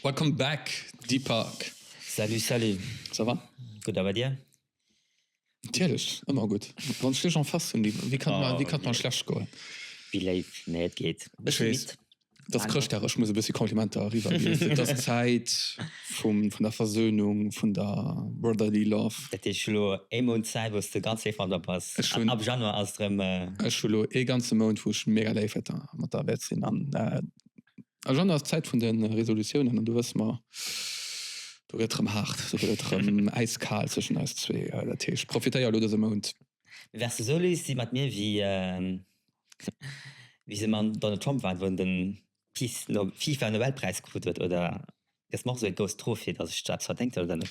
Welcome back Deepak! Salut salut! Ça va? Gutt a bei dir? Natierlech, ëmmer gutt. Wann ech dech en face hunn, wéi wéi kann et wéi kann et mer schlecht goen? Wéi léif, nee et geet. E bësse midd. Et ass Chrëschtdag, ech muss e bëssi Komplimenter eriwwer ginn. Et ass d'Zäit vum vun der Versöhnung, vun der brotherly love. Dat heescht, ech hu lo ee Mount Zäit, wou s de ganz léif mat mer bass. Ech hunn. Ab Januar ass et erëm. Ech hu lo ee ganze Mount, wou ech mega léif mat der wäert sinn an Agenda ass d'Zäit vun de Resolutiounen an do wësse mer, do gëtt erëm haart, do gëtt et erëm äiskal zwëschen eis zwee. Dat heescht, profitéier elo dëse Mount. Mir wär se esou lues si mat mir wéi se mam Donald Trump waren, wou en de Peace-Fifa-Nobelpräis krut huet. Oder gëss mer och esou ee Ghost Trophy, datt ech do eppes verdéngt hunn oder net?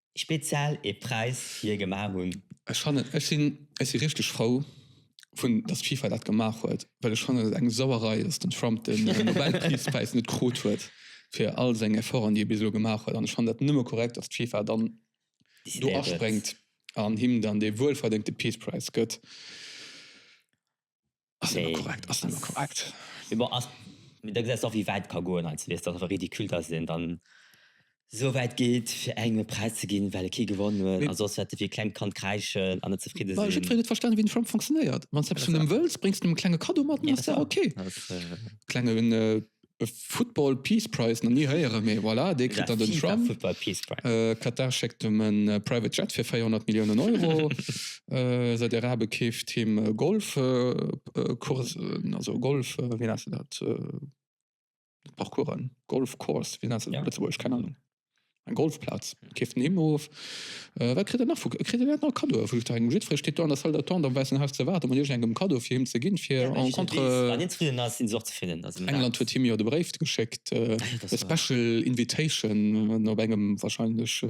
Spezial ee Präis fir gemaach hunn. Ech fannen, ech sinn, ech si richteg frou vun, datt d'FIFA dat gemaach huet, well ech fannen et eng Sauerei, datt den Trump de Nobelfridspräis net krut huet fir all seng Efforten, déi e bis elo gemaach huet. An ech fannen dat nëmme korrekt, datt d'FIFA dann do aspréngt an him dann dee wuelverdéngte Peace Prize gëtt. Ass net méi korrekt, ass net méi korrekt. Mee bon, ass, mee da gesäis de och, wéi wäit et ka goen heiansdo, wéi et einfach ridicule, datt een dann esou wäit geet, fir engem e Präis ze ginn, well e kee gewonnen huet, a soss wäert e wéi e klengt Kand kräischen an net zefridde sinn. Well jiddwereen huet verstanen, wéi den Trump funktionéiert. Wann s de eppes vun him wëlls, bréngs de him e klenge Kaddo mat, an dann ass dat ok. Klenge. Football Peace Prize nach ni héieren, mee voilà, dee kritt dann den Trump. Katar schéckt em e Private Jet fir 400 Milliounen Euro. Saudi-Arabe keeft him Golfcoursen, also Golf, wéi nennt se dat, Parcoursen, Golfcourse, wéi nennt se dat op Lëtzebuergesch, keng Ahnung. Eng Golfplaz keeft en him of. Äh, wat kritt en nach vu, kritt en dat nach Cadeau vu Juster engem? Jiddweree steet do an der Salle d'attente am wäissen Haus ze waarden, mat iergendengem Cadeau fir him ze ginn, fir en An contre. deen zefridden ass, deen ass och zefridden. Also dat. England huet him jo de Bréif geschéckt, Ah jo, dat ass e wahr. special invitation op engem wahrscheinlech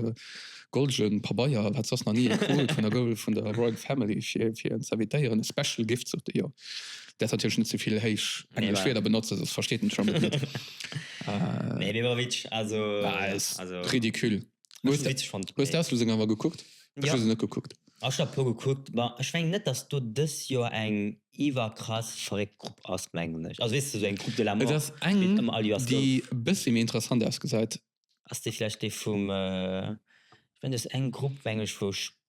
goldegen Pabeier, en hat soss nach ni ee krut, vun der Gol, vun der Royal Family, fir, fir en z'invitéieren. E special gift, sot e jo. Däers natierlech net ze vill héich englesch nee, Wierder benotzen, soss versteet en d'Chamber net. äh, nee, dee war witsch, also, also ridicule. Wo hues du d'Auslosung awer gekuckt? Ech ja. hues net gekuckt. Ech hab puer gekuckt, ma ech meng net, datt do dës Joer eng iwwerkrass verréckt Grupp ass, mengen ech. Also weess du, esou eng Grupp de la Mort. Et ass eng, déi e bëssi méi interessant ausgesäit. Ass déi vläicht déi vum, äh, ech meng, dat ass eng Grupp, meng ech, wou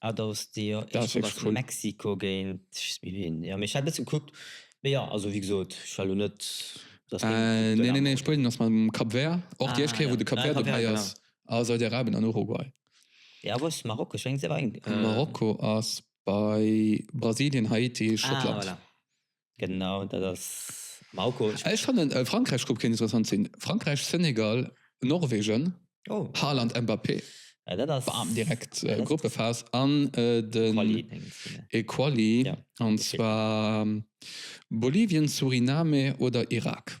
Ah do hues de jo eescht mat Mexiko géint Spuenien, jo mee ech hat bessen kuckt mee jo also wéi gesoot ech war lo net dass deng Equipe do laang geet. Spuenien ass mat Cap Vert och déi eischt Kéier wou de Cap Vert dobäi ass a Saudi Arabien an Uruguay. Jo wou ass Marokko? Ech mengen se war eng. Marokko ass bei Brasilien, Haiti, Schottland. Ah voilà. Genau, dat ass am Haucoach. Ech fannen Frankräich-Grupp kéint interessant sinn, Frankräich, Senegal, Norwegen, Haaland, Mbappé, bam, direkt Gruppephas an den Quali, an zwar Bolivien, Suriname oder Irak.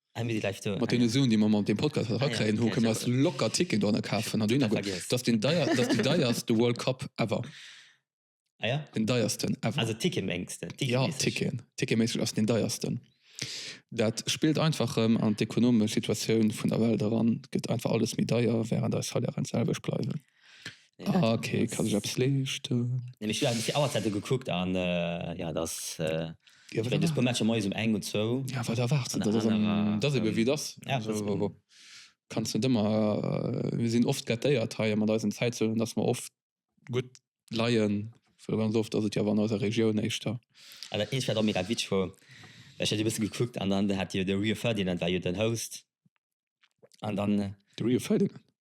Mat deene Suen, déi mer mat deem Podcast haut erakréien, hu kënne mer eis locker Ticketen dohinner kafen. Dat ass deen deierste World Cup ever. Deen deiersten ever. Also tickeméisseg ass deen deiersten. Dat spillt einfach erëm an d'ekonomesch Situatioun vun der Welt eran. Et gëtt einfach alles méi deier, wärend eis Salairen d'selwecht bleiwen. Ah, okay, kann ich eppes leeschten? Nee, ech hunn awer fir Auerzäite gekuckt an jo, et ass, jo, et ass e puer Matcher moies um eng oder zwou. Jo, wat erwaarts du? Dat ass ebe wéi et ass. Ja, et ass ebe. Kanns net ëmmer, mir sinn oft gâtéiert hei mat eisen Zäitzonen, datt mer oft gutt leien, well ganz oft ass et jo awer an eiser Regioun éischter. Ah, dat eent war och mega witzeg, well ech hat e bësse gekuckt an dann hat jo de Rio Ferdinand war jo den Host an dann. De Rio Ferdinand?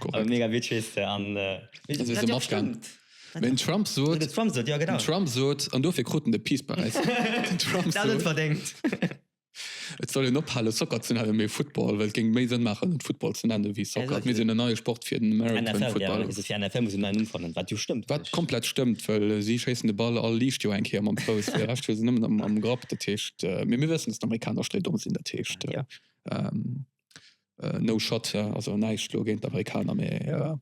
Korrekt. Mega Witsch wees de an. An si sinn afgaang. Den Trump sot. Den Trump sot, jo genau. Den Trump sot, an dofir krut en de Peace Präis. Den Trump sot. Dat huet en verdéngt. Et soll een ophale Soccer ze nennen, mee Football, well et géing méi Sënn maachen et Football ze nennen ewéi Soccer. Et misst een en neie Sport fir den American Football. NFL, ja, also fir NFL muss een en neien Numm fannen, wat jo stëmmt. Wat komplett stëmmt, well si schéissen de Ball all liicht Joer eng Kéier mam Fouss, fir de Rescht hu se nëmmen am Grapp, dat heescht, mee mir wëssen, datt d'Amerikaner stréidomm sinn, dat heescht. No shot, ja also näischt lo géint d'Amerikaner, mee jo.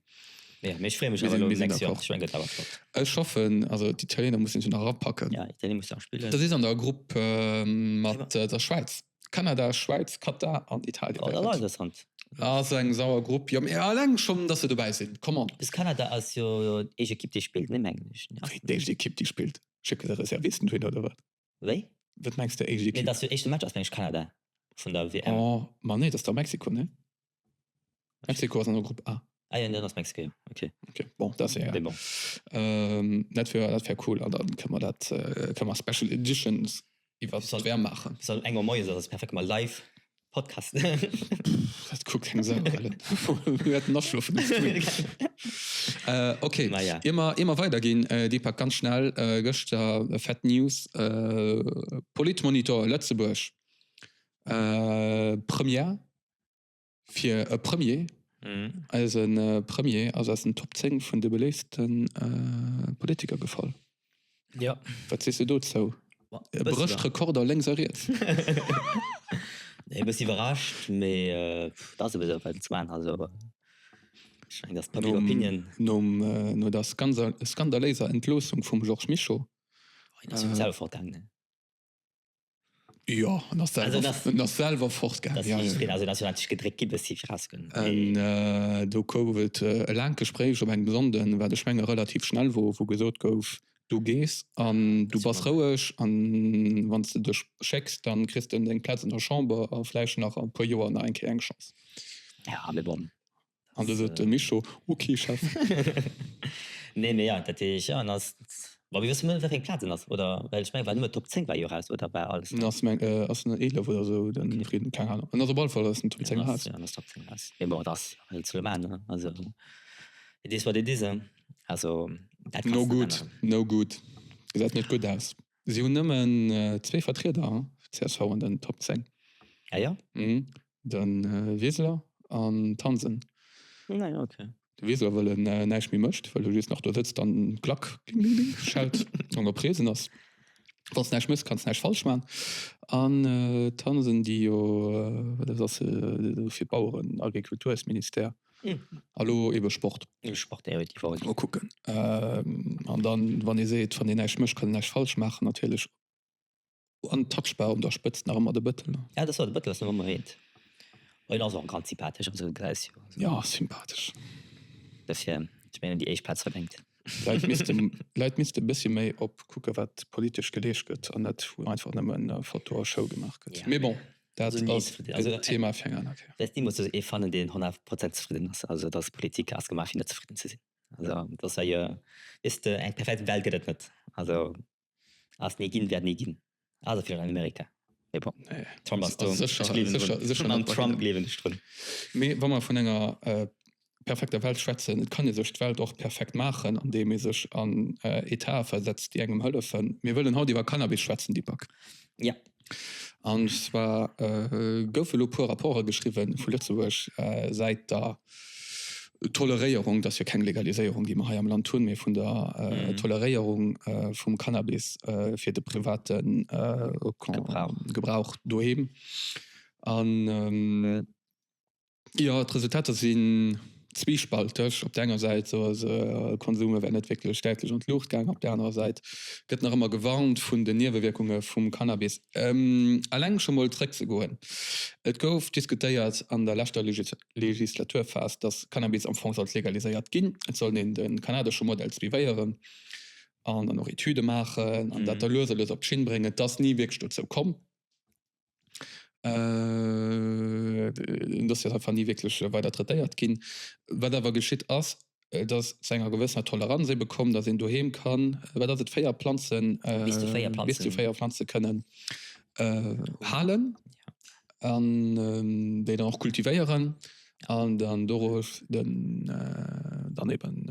Jo, mee ech freeë mech awer elo nächst Joer, ech meng gëtt awer flott. Ech hoffen, also d'Italieener mussen se nach erapacken. Ja, Italie muss se nach spillen. Der sidd an der Grupp mat der Schwäiz, Kanada, Schwäiz, Katar an Italien. Oh, dat ass awer interessant. Ass eng sauer Grupp, jo mee alleng schonn dass se dobäi sinn, come on. Plus Kanada ass jo déi eischt Ekipp déi spillt, ne mengen ech. Déi eischt Ekipp déi spillt, schécke se Reservisten dohin oder wat? Wéi? Wat mengs de éischt Equipe? Dat jo éischte Match ass mengen ech Kanada vun der WM. Oh ma nee, dat ass da Mexiko ne? Mexiko ass an der Grupp A. Ah jo, dann ass Mexiko jo ok. Ok bon, dat ass egal. Dat wier dat wier cool an da kënne mer dat kënne mer Special Editions iwwert d'WM maachen. Eng Auer moies, dat ass perfekt gemaach live. Podcast. Dat kuckt keng Sau, Ellen. Mir hätten afschlofen Ok, ier mer weiderginn, Deepak, ganz schnell, gëschter fett News, Politmonitor Lëtzebuerg, Première fir e Premier, eise Premier ass aus den Top 10 vun de beléifsten Politiker gefall. Jo. Wat sees de dozou? E brécht Rekorder lénks a riets. E bëssi iwwerrascht, mee et ass ebe sou, well zwou anenner sou waren. Ech mengen, dass d'Public Opinion. No der skandaléiser Entloossung vum Georges Mischo. Hien ass jo selwer fortgaangen. Jo en ass selwer en ass selwer fort gaangen. Jo jo jo. Also en ass jo natierlech gedréckt gi bis si fir raus goen. An do gouf et e laangt Gespréich op engem Sonnden, wat ech menge relativ schnell wor, wou gesot gouf, du gees an du bass roueg an wann s de dech schécks, da kriss de deng Plaz an der Chamber a vläicht nach a e puer Joer nach eng Kéier eng Chance. Jo mee bon. An du sot de Mischo, Ok, Chef. Nee, mee jo, dat heesch, jo, en ass, ma mir wëssen net wéi eng Plaz en ass, oder? Well ech mengen, war nëmmen Top 10 war jo raus, oder war alles? En ass meng, ass en 11 oder esou, den Frieden, keng Ahnung, en ass op alle Fall aus den Top 10 raus. En ass Top 10 raus, mee bon, et ass halt sou maan, ne, also it is what it is, hein, also dat kanns de net änneren. No good, no good, gesäit net gutt aus. Si hunn nëmmen zwee Vertrieder, csv an den Top 10. Ah jo? Mhm. De Wiseler an d'Hansen. Ah jo, ok. De Wiseler, wëll en näischt méi mécht, wëll e just nach do sëtzt an klack ding ding ding schellt, soulaang e present ass. Wann s näischt méchs, kann s näischt falsch maachen. An d'Hansen, déi jo, wat ass se, fir d'Baueren, Agrikultursministère. Hallo ebe Sport. Ebe Sport Air huet déi Woch. Mol kucken an dann wann ee seet wann een näischt mécht kann een näischt falsch maachen natierlech. An den Touchbar un der Spëtzt nach ëmmer de Bëttel. Ja dëst war de Bëttel ass nach ëmmer eent. En ass och ganz sympathesch am Sënn grouss jo. Jo sympathesch. Dofir ech mengen déi éischt Plaz verdéngt. Läit misste Läit misste e bëssi méi op kucke wat politesch geleescht gëtt an net wou einfach nëmmen Foto a Show gemaach gëtt. Mee bon. Dat ass e Thema fir eng aner Kéier. Ech muss soen, ech fannen, deen 100 Prozent zefridden ass, also dass Politik ass gemaach fir net zefridden ze sinn. Also dass hei, weess de, eng perfekt Welt gëtt et net. Also ass ni ginn, wäert ni ginn, also vläicht an Amerika, mee bon, Trump ass do, ech gleewen drun, an Trump gleewen ech drun. Mee wa mer vun enger perfekter Welt schwätzen. Et kann ee sech d'Welt och perfekt maachen, andeem ee sech an Etae versetzt, déi engem hëllefen. Mir wëllen haut iwwer Cannabis schwätzen, Deepak. Jo. An zwar goufe elo e puer Rapporte geschriwwe vu Lëtzebuerg säit der Toleréierung, dass jo keng Legaliséierung, déi mer hei am Land hunn, mee vun der Toleréierung vum Cannabis fir de private Gebrauch doheem. Jo, d'Resultater sinn zwiespalteg. Op der enger Säit soe se, de Konsum wär net wierklech däitlech an d'Luucht gaangen. Op der anerer Säit gëtt nach ëmmer gewarnt vun den Niewewierkunge vum Cannabis. Eleng scho mol zréck ze goen, et gouf diskutéiert an der leschter Legislaturphas, datt Cannabis am Fong sollt legaliséiert ginn. Et soll een de kanadesche Modell suivéieren an dann och Etüde maachen an dat da lues a lues op d'Schinn bréngen. Et ass ni wierklech dozou komm. Den Dossier ass einfach ni wierklech weider traitéiert ginn. Wat awer geschitt ass, et ass zu enger gewëssener Toleranz ebe komm, datt een doheem kann, wat ass et, véier Planzen, bis zu véier Planze kënnen halen an déi dann och kultivéieren an dann dorosch dann eeben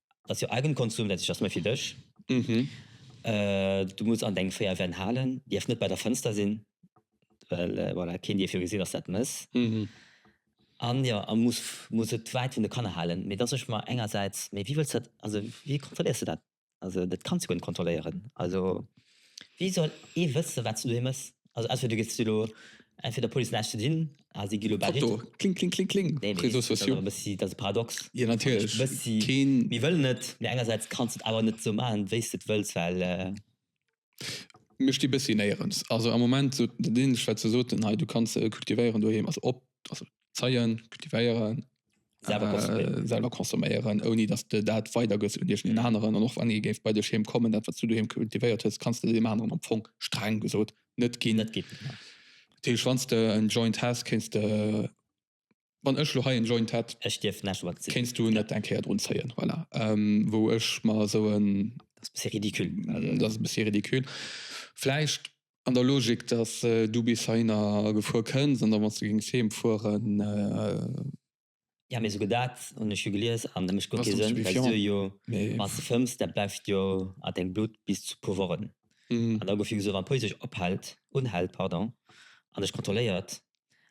Dat ass jo Eigenkonsum, dat heescht, dat ass méi fir dech. Du muss an deng 4 Wänn halen, dierf net bei der Fënster sinn, well voilà, keen dierf jo gesinn, dass dat mëss. An jo, a muss, muss et wäit vun de Kanner halen. Mee da so ech mer engersäits, mee wéi wëlls du dat, also wéi kontrolléiers du dat? Also dat kanns du guer net kontrolléieren. Also. Wéi soll ee wëssen, wat se doheem ass? Also entweder du giffs elo entweder der Police näischt ze dinn, a si gi lo bal Foto, richteg. Kling, kling, kling, kling, Nee, mee Réseaux dat ass awer e sociaux. bëssi, dat ass e Paradox. Jo, An ech natierlech, bëssi, keen. mir wëllen et, mee engersäits kanns de et awer net esou maachen, wéi s de et wëlls, well. Mir sti bëssi néierens. Also am Moment, sou dat Ähnlecht, wat se soten hei, du kanns se kultivéieren doheem, also op, also zeien, kultivéieren, selwer consomméieren, ouni dass de dat weider gëss un iergend een aneren. An och wann ee géif bei dech heem kommen, dat wat s du doheem kultivéiert hues, kanns de deem aneren am Fong, streng gesot, net ginn. Net ginn, genau. Deesch, wann s de en Joint häss, kéints de, wann ech elo hei en Joint hätt, kéints du net eng Kéier drun zéien. Voilà. Wou ech mer esou en. Dat ass e bësse ridicule. Dat ass e bësse ridicule. Vläicht. An der Logik, dass du bis heihinner gefuer kënns an da wanns du géings heem fueren. Jo, mee souguer dat hunn ech jo gelies an dat mécht guer kee Sënn, well se jo, wanns de fëmms, dat bleift jo a dengem Blutt bis zu puer Wochen. An da gouf jo gesot, wann d'Police dech ophält, unhält, pardon, an dech kontrolléiert,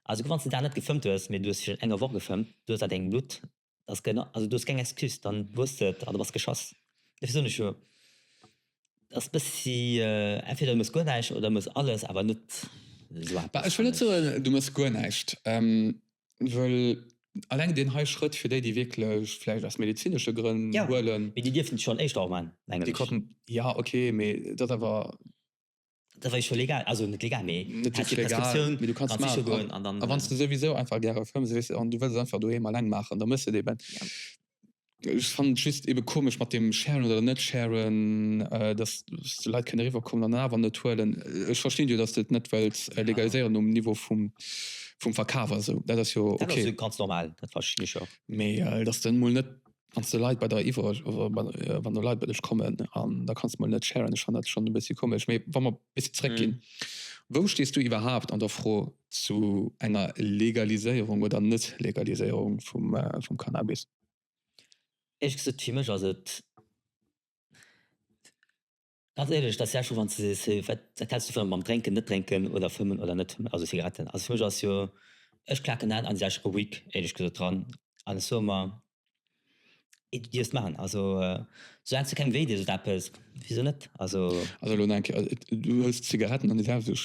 a souguer wanns de dat net gefëmmt hues, mee du hues virun enger Woch gefëmmt, du hues a dengem Blutt ass keng also du hues keng Excuse dann hues et an du bass geschass dofir soen ech jo ass bessi entweder du mess guer näischt oder mess alles awer net esou eppes. Bah ech wëll net soen du mess guer näischt wëll alleng deen hei Schrëtt fir déi déi wierklech vläicht aus medizinesche Grënn huelen. Jo mee déi dierfen et schonn éischter och maan mengen ech. Jo ok mee et ass awer. Dat war jo scho legal, also net legal, mee du häss jo d'Prescriptioun, du kanns et maachen. A wann s de souwisou einfach gäre Film si, weess, an du wëlls et einfach doheem alleng maachen, da muss de et eben. Ech fannen et just ebe komesch mat deem sharen oder net sharen, dass de Leit kënne riwwerkommen an et awer net huelen. Ech verstinn jo, dass de et net wëlls legaliséieren um Niveau vum Verkaf a sou, dat ass jo ok. Dat ass jo ganz normal, dat verstinn ech och. Mee dass de emol net Wann de Leit bei der iwwer wann de Leit bei dech kommen an da kanns mol net sharen, ech fannen dat schonn e bëssi komesch. Mee wa mer bis zréck ginn, wou stees du iwwerhaapt an der Fro zu enger Legaliséierung oder Net-Legaliséierung vum Cannabis? Éisch gesot, fir mech ass et. Ganz éierlech, dass Jerscho, wanns de sees hé wat wat häls du vun mam drénken, net drénken oder fëmmen oder net fëmmen, also Zigaretten, also fir mech ass jo, ech klaken dat an sech ruhig éierlech gesot dran an ech soe mer et du dierfs maachen, also sou laang s de kengem wéi dees oder eppes, wisou net, also. Also elo no enger Kéier, du hëls Zigaretten an dir selwer,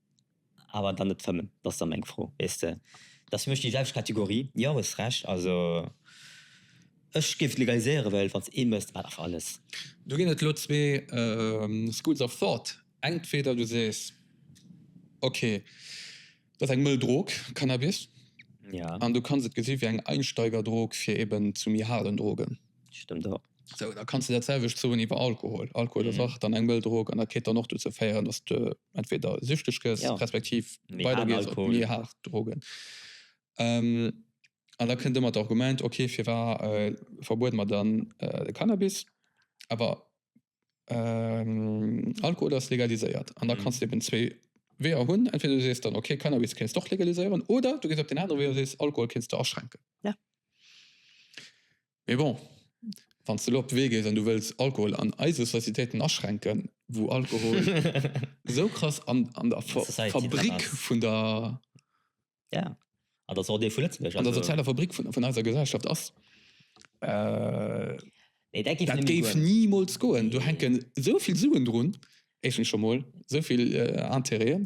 Awer dann net fëmmen, dat ass da meng Fro, weess de. Dat ass fir mech déi selwecht Kategorie. Jo, hues Recht. Also ech géif et legaliséieren, well wann s ee mësst, wat awer alles. Do ginn et elo zwee schools of thought. Entweder du sees, ok, dat ass eng mëll Drog, Cannabis, an du kanns et gesi wéi eng Einsteigerdrog fir eben zu méi haarden Drogen. Stëmmt och. Sou, da kanns de dat selwecht soen iwwer Alkohol. Alkohol ass och dann eng mëll Drog an dat kéint dann och dozou féieren, dass de entweder süchteg gëss, respektiv weider gees op méi haart Drogen. An da kënnt ëmmer d'Argument, ok, firwat verbuede mer dann de Cannabis, awer Alkohol ass legaliséiert. An da kanns de eben zwee Weeër hunn, entweder du sees dann, ok, Cannabis kéints de och legaliséieren, oder du gees op deen anere Wee a sees, Alkohol kéints de aschränken. Mee bon, wann s de elo op de Wee gees an du wëlls Alkohol an eise Societéiten aschränken, wou Alkohol esou krass an der Fabrik vun der, ja, an der sozialer Fabrik vun eiser Gesellschaft ass, dat géif nimools goen. Do hänken esou vill Suen drun, éischtens scho mol, esou vill Intérêten.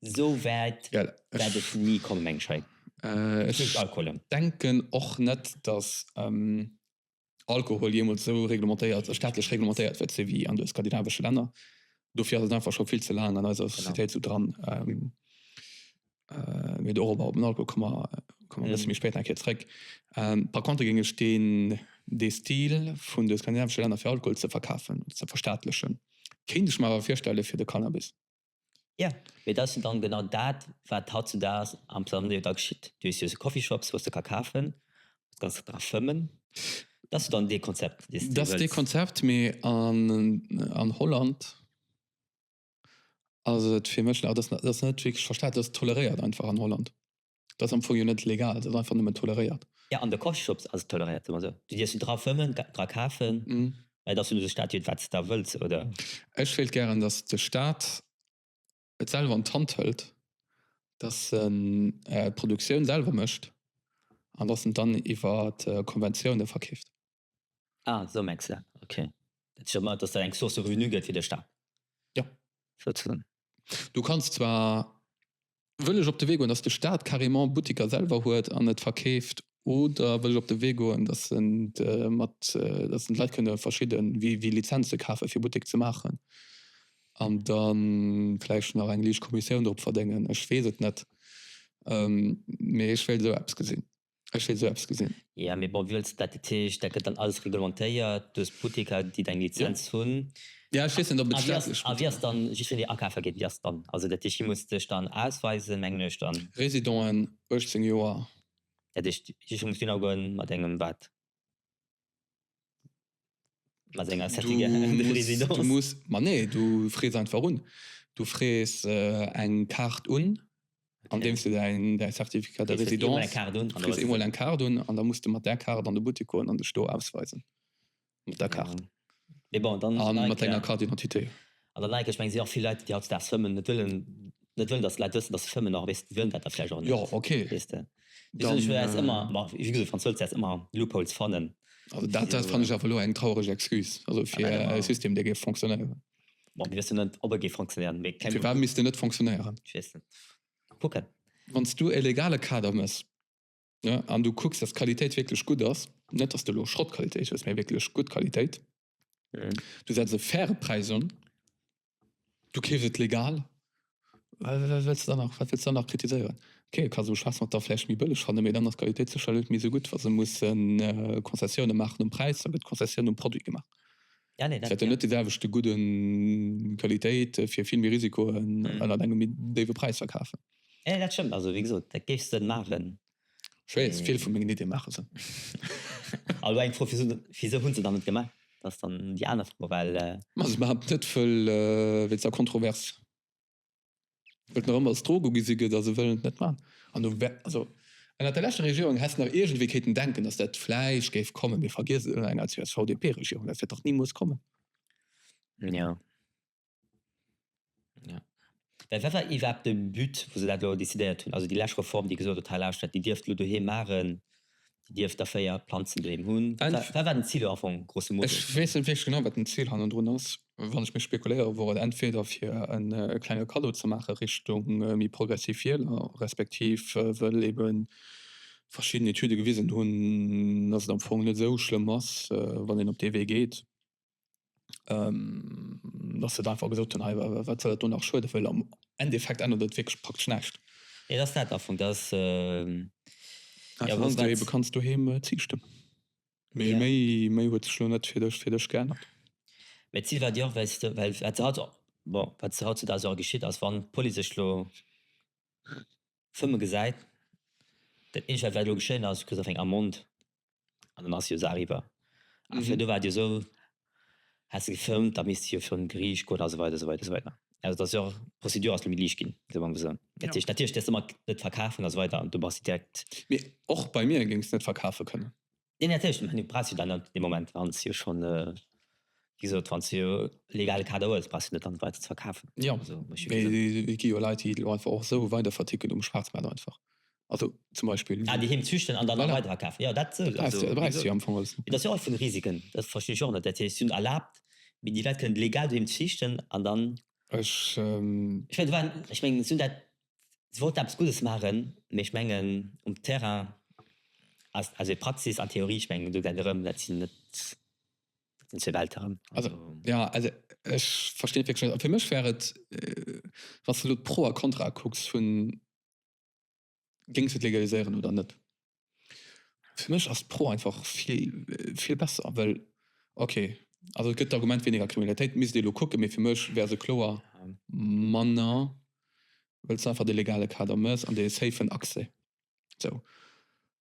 sou wäit wäert ech ni komme meng Schéi. Ech denken och net, datt Alkohol jeemools sou reglementéiert, staatlech reglementéiert wäert sinn, wéi an de skandinavesche Länner. Dofir ass et einfach scho vill ze laang an eiser Societéit sou dran. Mee dorop, op den Alkohol, komme mer e bësse méi spéit eng Kéier zréck. Par contre géing ech deen, dee Stil vun de skandinavesche Länner fir Alkohol ze verkafen, ze verstaatlechen, kéint ech mer awer virstelle fir de Cannabis. Jo, mee dat ass jo dann genau dat wat hautzedags am Plaza New York geschitt. Du hues jo sou Coffeeshops wou s de ka kafen, wou s de kanns dra fëmmen. Dat ass jo dann dee Konzept dee s de wëlls. Dat ass dee Konzept, mee an Holland ass et fir mech, dat ass net wierklech verstaat, dat ass toleréiert einfach an Holland. Dat ass am Fong jo net legal, et ass einfach nëmmen toleréiert. Jo, an de Coffeeshops ass et toleréiert, soe mer esou. Du dierfs do dra fëmmen, dra kafen, mä et ass jo net de Staat, deen wat s da wëlls, oder? Ech wéilt gären, datt de Staat et selwer an d'Hand hëlt, datt en d'Produktioun selwer mécht an datt en dann iwwer Konventioune verkeeft. Ah, esou mengs de, ok. Dat heescht awer net, dass dat eng Source de revenu gëtt fir de Stat? Jo. Souzesoen. Du kanns zwar, wëll ech op de Wee goen, dass de Stat carrément Butteker selwer huet an et verkeeft, oder wëll ech op de Wee goen, dass en mat, dass en d'Leit kënne verschidde wéi Lizenze kafe fir Buttek ze maachen an da vläicht nach eng liicht Kommissioun drop verdéngen? Ech weess et net, mee ech wéilt esou eppes gesinn. Ech wéilt esou eppes gesinn. Ja mee bon, wéi wëlls de dat? Dat heescht, dat gëtt dann alles reglementéiert, du hues Butteker déi deng Lizenz hunn. Ja ech weess net ob et staatlech Butteker. A wéi ass dann, just wann dir akafe geet, wéi ass dann, also dat heescht, dir musst dech dann ausweisen mengen ech dann. Residenten 18 Joer. Dat heescht just wann muss du hin a goen mat engem wat? Ma senger Du Sättiger musst, du Residence. musst, ma nee, du frees einfach un. Du frees äh, eng Kaart un, andeems du däin, däi Certificat de Du frees eemol eng Résidence, Kaart un an du da frees hues eemol eng Kaart un an da muss de mat där Kaart an de Buttek goen an dech do ausweisen, mat der Kaart Mee bon, dann an mat denger Carte d'identité. An dann denken ech, mengen si och vill Leit déi hautzedaags fëmmen, net wëllen, net wëllen dass d'Leit wëssen dass se fëmmen, och weess wëllen dat da vläicht och net, weess de. Perséinlech wäert s ëmmer, ma wéi gesot, Franz Hölz wäert s ëmmer Loopholes fannen. Also dat dat fannen ech awer elo eng traureg Excuse, also fir e System dee géif fonctionnéieren. Bon, mir wëssen net ob e géif fonctionnéieren, mee keng Ahnung. Firwat misst en net fonctionnéieren? Ech weess net. Kucken. Wann s du e legale Kader mëss, ne, an du kucks dass d'Qualitéit wierklech gutt ass, net dass de elo Schrottqualitéit hues, mee wierklech gutt Qualitéit, Du setz e faire Präis un, du keefs et legal, wat wëlls de dann nach kritiséieren? Ok, et ka sou schwaass mat der vläicht méi bëlleg fannen, mee dann ass d'Qualitéit sécherlech net méi sou gutt. Wa se musse Konzessioune maachen um Präis, da gëtt d'Konzessioun um Produit gemaach. Et wäert jo net dee selwechte gudde Qualitéit fir vill méi Risikoen ënnert engem méi déiwe Präis verkafen. Dat stëmmt. Also wéi gesot, dat géifs de maachen, Schwéiers, vill vu mengen Iddie maache Sënn. A lo eng Fro, Wisou hu se dann net gemaach? Dat ass dann déi aner Fro, well. Ma se behaapt net, wëll wéi ze kontrovers et nach ëmmer als Drog ugesi gëtt, a se wëllen et net maachen. An do wär, also ënnert der leschter Regierung häss nach iergendwéi kéinten denken, datt dat vläicht géif kommen, mee vergiesst et, ënner enger CSV-DP-Regierung, dat wäert dach ni muss kommen. Jo. Ja. Mä wat war iwwerhaapt de But, wou se dat elo decidéiert hunn? Also déi lescht Reform, déi gesot huet, hei lauschtert, Dir dierft elo doheem maachen, Dir dierft der véier Planzen doheem hunn. Wat war den Zil do am Fong, grosso modo? Ech weess net wierklech genau, wat den Zil hannendrun ass. Wann ech mech spekuléiere wor et entweder fir e klenge Kaddo ze maache Richtung méi progressiv Wieler, respektiv wëll ebe verschidden Etüde gewisen hunn, dass et am Fong net esou schlëmm ass, wann een op dee Wee geet. dass se et einfach gesot hunn, hei, wat soll dat do nach schueden, well am Endeffekt ännert et wierklech praktesch näischt. Et ass dat am Fong, dass, jo, Einfach, dass wat. du eebe kanns doheem Zich stëmmen. Mee Ja. méi, méi huet sech elo net fir dech, fir dech geännert. Mee d'Zil war déi och, well s de, well wat se haut, bon, wat se hautzudags och geschitt ass, wann d'Police sech elo, Fëmme gesäit, dat eescht wat vläit elo geschéien ass, kritt e Feng am Mond an dann ass jo d'Saach iwwer. A virdru war et jo esou, häss de gefëmmt, da misst de jo virun d'Geriicht goen a sou weider, sou weider, sou weider. Also et ass jo och, d'Prozedur ass lo méi liicht ginn, soe mer emol esou. Dat heescht, natierlech däers de mer et net verkafen a sou weider an do bass de direkt. Mee och bei mir géings de net verkafe kënnen. Nee mee natierlech du brauchs jo dann op dee Moment wann s jo schonn wéi gesot wann s jo e legale Kader hues brauchs du net dann weider ze verkafen. Jo mee et gi jo Leit déi elo einfach och esou weider verticken um Schwaarzmaart einfach also zum Beispill. Ah déi heem züchten an dann weider verkafen jo dat sou also wéi gesot jo am Fong alles. Et ass jo och vun Risiken dat verstinn ech och net dat heescht si hunn erlaabt mee déi Leit kënnen legal doheem züchten an dann. Ech. Ech mengen et waren ech mengen si hunn dat. si wollten eppes Guddes maachen, mee ech mengen um Terrain ass, also fir Praxis an Theorie, ech mengen do geet erëm, dat sinn net, dat sinn zwee Welten erëm. Also jo, also ech verstinn et wierklech net. A fir mech wär et, wann s de elo d'Pro a Kontrae kucks vun, géings de et legaliséieren oder net? Fir mech ass d'Pro einfach vill besser, well ok also et gëtt d'Argument wéineger Kriminalitéit, misst ee elo kucken, mee fir mech wär se kloer manner, well s du einfach de legale Kader méchs an dee safen Accès. Sou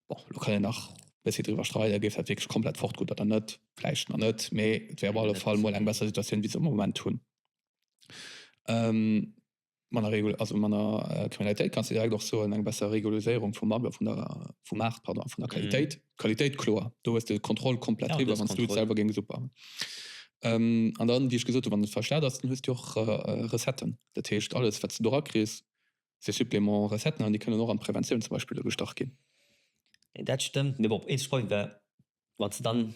bon, elo kann een nach e bëssi driwwer streiden, géif dat wierklech komplett fort gutt oder net, vläicht nach net, mee et wär op alle Fall mol eng besser Situatioun wéi s de am Moment hunn. manner Kriminalitéit, kanns de direkt och soen, eng besser Regulariséierung vum Marché, vun der, vum Maart, pardon, vun der Qualitéit, Qualitéit, kloer, do hues de d'Kontroll komplett driwwer, wann s du et selwer géings opbauen. An dann, wéi ech gesot hu, wann et verstaat ass, dann hues du jo och Recetten. Dat heescht, alles, wat s de do erakriss, si Suppléments, Recetten, an déi kënnen och an d'Preventioun zum Beispill ugestach ginn. Dat stëmmt, mee bon, eent Problem wär, wann s de dann.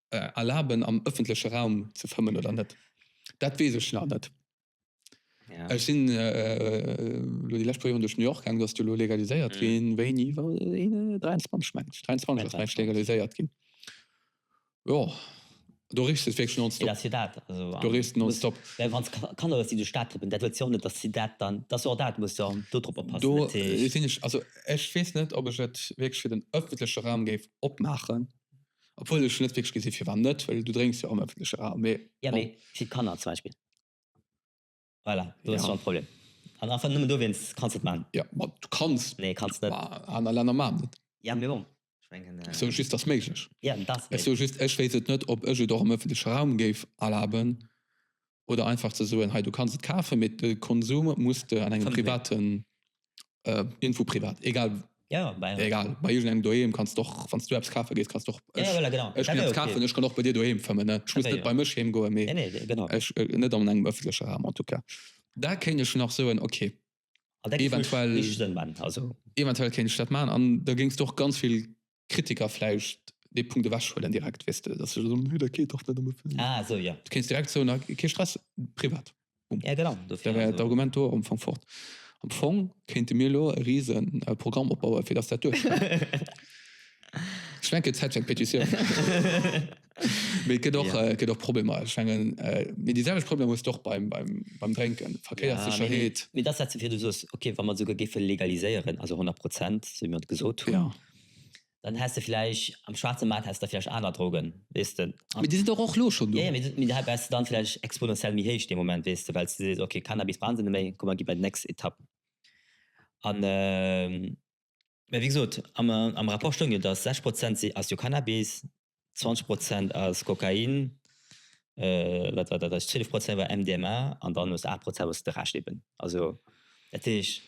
erlaben am ëffentleche Raum ze fëmmen oder net. Dat weess ech nach net. Ech sinn elo déi lescht puer Joren duerch New York gaangen, do ass jo elo legaliséiert ginn, wéini war dat, 23 meng ech, 23 ass meng ech legaliséiert ginn. Jo, do reest de wierklech nonstop. Dat ass jo dat, also do reest de nonstop. Mä wann s de Kanner hues, déi duerch d'Stad trippen, dat huet jo och net, datt si dat dann, dat ass jo och dat, muss jo do drop oppassen. Do sinn ech, also ech weess net, ob ech et wierklech fir den ëffentleche Raum géif opmaachen. obwuel ech net wierklech gesi firwat net, well du drénks jo am ëffentleche Raum, mee bon. Jo, mee fir d'Kanner zum Beispill, voilà, do hues de schonn e Problem. An einfach nëmmen dowéinst kanns de et maachen. Jo, ma du kanns et. Nee, kanns net. Mä aner Länner maachen et. Jo, mee bon, ech mengen. Ech soe just, et ass méiglech. Jo, et ass méiglech. Ech soe just, ech wéisst net, ob ech et och am ëffentleche Raum géif erlaben. oder einfach ze soen hei du kanns et kafen mee de Konsum muss de an engem privaten irgendwou privat egal egal bei iergendengem doheem kanns de och wann s du eppes kafe gees kanns de och ech ginn eppes kafen ech kann och bei dir doheem fëmmen ech muss net bei mech heem goen mee ech net an engem ëffentleche Raum en tout cas da kéint ech nach soen ok eventuell eventuell kéint ech dat maachen an da géings de och ganz vill Kritiker vläicht dee Punkt ewechhuelen direkt, weess de, datt se soen, Nö, dat geet dach net am Ëffentlechen. Ah, esou, jo. Du kéints direkt soen, Ah, kee Stress, privat, bum. Ja, genau, dofir also. Da wär d'Argument do am Fong fort. Am Fong kéinte mir elo e rise Programm opbauen, fir datt dat duerchgeet. Ech mengen, et gëtt Zäit fir eng Petitioun. Mee et gëtt och, et gëtt och Problemer. Ech mengen, mee déi selwecht Problemer hues de och beim, beim, beim Drénken, Verkéierssécherheet. Mee dat setzt jo virdu, soss, okay, wa mer et esouguer géife legaliséieren, also 100 Prozent, esou wéi mer et gesot hunn. Dann häss de vläicht am schwaarze Maart häss de vläicht aner Drogen, weess de. Mee déi sinn dach och lo schonn do. Jo, jo, mee da wärst de dann vläicht exponentiell méi héich dee Moment, weess de, well s de sees, ok, Cannabis brauchen se net méi, komm mer gi bei déi nächst Etapp an. Mä wéi gesot, am Rapport stoung jo, datt 60 Prozent si ass jo Cannabis. 20 Prozent ass Kokain, wat war dat eischt, 12 Prozent war MDMA an dann hues de 8 Prozent wou de Rescht eben, also dat heescht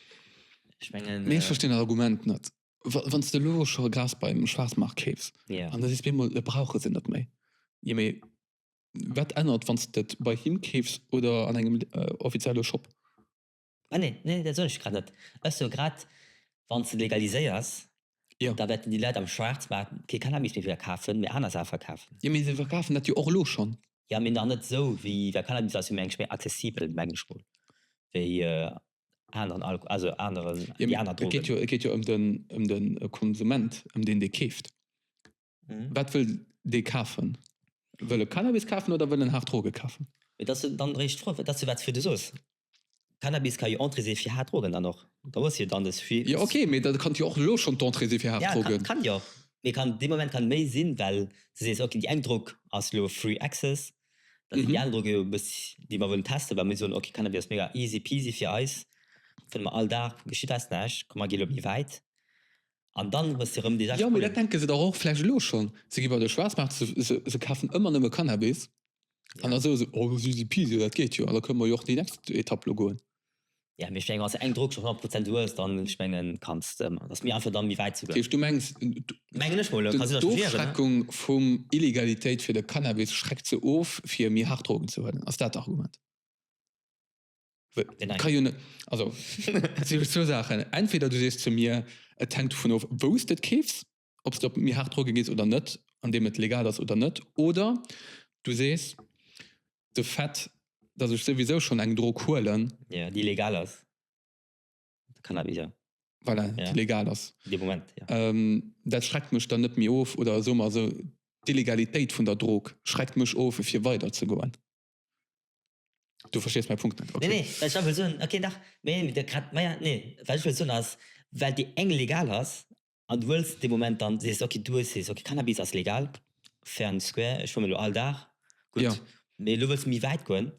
ech mengen. Mee ech verstinn dat Argument net. Wann s de elo scho Gras beim Schwaarzmaart keefs an da sees de op eemol et brauche se net méi, jo mee wat ännert wann s de et bei him keefs oder an engem offizielle Shop? Ah nee, nee, dat soen ech grad net. Ech soe grad, wann s de et legaliséiers, da wäerten déi Leit am Schwaarzmaart kee Cannabis méi verkafen, mee aner Saache verkafen. Jo, mee se verkafen dat jo och elo schonn. Jo, mee nach net esou wéi, well Cannabis ass jo mengen ech méi accessibel, mengen ech mol, wéi aneren Alko-, also aneren, déi aner Drogen. Jo, mee et geet jo ëm den Konsument, ëm deen, dee keeft. Mhm. Wat wëll dee kafen? Wëll e Cannabis kafen oder wëll en haart Droge kafen? Et ass jo dann eréischt d'Fro, dat ass jo wat, wou du soos, Cannabis ka jo Entrée si fir haart Drogen dann och. Da hues du jo dann dës vi. Jo ok, mee dat kann jo och elo schonn d'Entrée si fir haart Ja, Drogen. kann jo. Mee kann dee Moment kann méi sinn, well du sees ok, déi eng Drog ass lo free access, da sinn Mhm. déi aner Droge jo e bëss, déi mer wëllen testen, well mir soen ok, Cannabis ass mega easy peasy fir eis, fënne mer all Dag, geschitt eis näischt, komm mer gi lo méi wäit. An dann hues de rëm déi 6 Pullen. Jo, mee dat denke se dach och vläicht elo schonn. Se gi bei de Schwaarzmaart, se kafen ëmmer nëmme Cannabis an da soe se, oh jo, easy peasy, dat geet jo an da kënne mer jo och déi nächst Etapp elo goen. Jo, mee ech menge wann s de eng Drog schonn 100 Prozent hues, dann, ech menge kanns de, et ass méi einfach da méi wäit ze goen. Dat heescht, du mengs, d'Ofschreckung vum Illegalitéit fir de Cannabis schreckt se of fir méi haart Drogen ze huelen, ass dat d'Argument? Entweder du sees ze mir, et hänkt dovun of, wou s de et keefs, ob s de op méi haart Droge gees oder net, andeem et legal ass oder net, oder du sees, de Fait, datt ech souwisou schonn eng Drog huelen, déi legal ass, dat schreckt mech dann net méi of, oder soe mer esou, d'Illegalitéit vun der Drog schreckt mech of, fir weiderzegoen. Du verstees mäi Punkt net, okay. Nee, nee, well ech awer wëll soen, okay, dach, mee mir de grad, maja, nee, wat ech wëll soen ass, well déi eng legal ass an du wëlls dee Moment dann, sees de, okay, du hues, sees, okay, Cannabis ass legal, fair and square, ech fumen elo all Dag, gutt, mee elo wëlls de méi wäit goen,